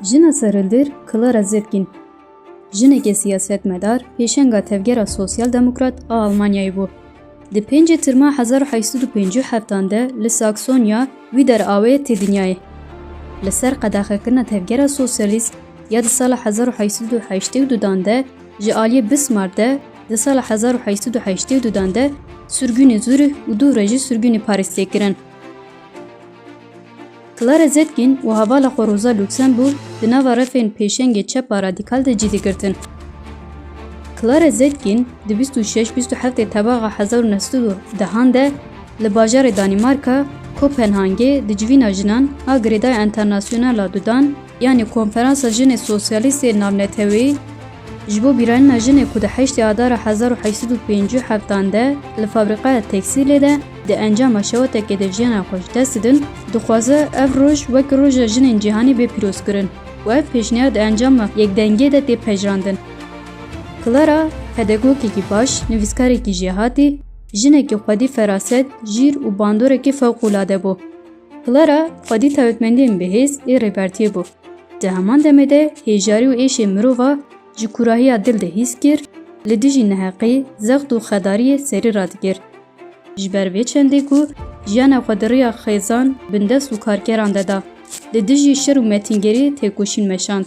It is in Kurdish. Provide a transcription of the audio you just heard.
Jina serhildir Clara Zetkin, jineke siyasetmedar, pêşenga Tevgera Sosyal Demokrat a Almanyayê bû. Di pêncê Tirma hezar û heşt sed û pêncî û heft an de li Saksonya Wîder Aue tê dinyayê. Li ser qedexekirina Tevgera Sosyalîst ya di sala hezar û heşt sed û heştê û du dan de ji aliyê Bismarck de di sala hezar û heşt sed û heştê û du dan de sirgûnê Zurih û dû re jî sirgûnê Parîs tê kirin. Clara Zetkin û hevala xwe Rosa Luxemburg di nava refên pêşengê çepa radîkal de cî digirtin. Clara Zetkin di bîst û şeş bîst û heftê tebaxa hezar û neh sed û dehan de li bajarê Danîmarka, Kopenhangê di civîna jinan a girêdaya enternasyonal a dudan, Yanî Konferansa Jinê Sosyalîst ê Navneteweyî ji bo bîranîna jinê ku di heştê Adara hezar û heşt sed û pêncî û heftan de li fabrîqaya tekstîlê de di encama şewetekê de jiyana xwe ji dest didin, dixwaze ev roj wek Roja Jinên Cîhanî bê pîrozkirin û ev pêşniyar di encama yekdengiyê de tê pejirandin. Clara, pedagogekî baş, nivîskarekî jêhatî, jinekî xwedî feraset, jîr û bandorekî fewqûlade bû. Clara xwedî tayotmendiyên bêhêz ê Rêbertiyê bû. Di heman demê de hêjarî û êşê mirova ji kurahiya dil de hîs kir, li dijî neheqî, zext û xedariyê serî radigir. Ji ber vê çendê ku jiyana xwe di riya xêzan, bindest û karkeran de da, li dijî şer û metîngerî têkoşîn meşand.